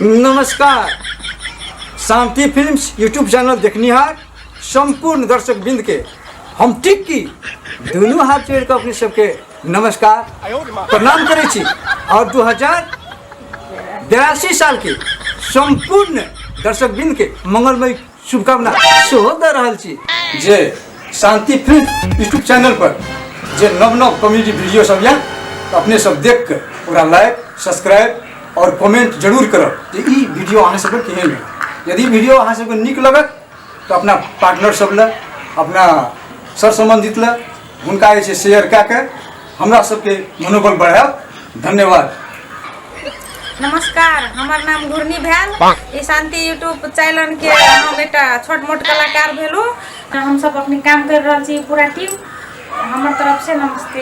नमस्कार Shanti films YouTube channel देखनिहार सम्पूर्ण दर्शक बिंद के हम टिक्की दुनू हाथ जोड़ के अपने सबके नमस्कार प्रणाम करै छी और दू हजार बयासी साल के सम्पूर्ण दर्शक बिंद के मंगलमय शुभकामना सेहो दऽ रहल छी जे शांति फिल्म यूट्यूब चैनल पर जे नव नव कॉमेडी वीडियो सब यऽ तऽ अपने सब देख कऽ ओकरा लाइक सब्सक्राइब और कमेंट जरूर करब जे ई वीडियो अहाँ सबके केहन यऽ यदि वीडियो अहाँ सबके नीक लगत तऽ अपना पार्टनर सब लए अपना सर सम्बन्धित लए हुनका जे छै शेयर कए कऽ हमरा सबके मनोबल बढ़ायब धन्यवाद नमस्कार हमर नाम घुर्नी भेल ई शांति यूट्यूब चैनल के हम एकटा छोट मोट कलाकार भेलू हम सब अपने काम कर रहल छी पूरा टीम हमर तरफ से नमस्ते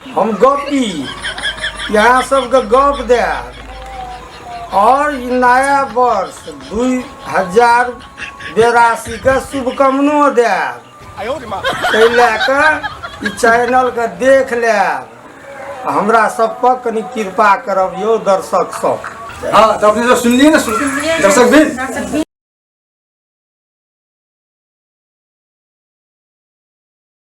हम गपी यहाँ सबके गप दे और नया वर्ष दू हजार बेरासी के शुभकामनो दे ताहि लए कऽ ई चैनल के देख लेब आ हमरा सब पर कनि कृपा करब यौ दर्शक सब हाँ तो अपने जो सुन लिए ना सुन दर्शक भी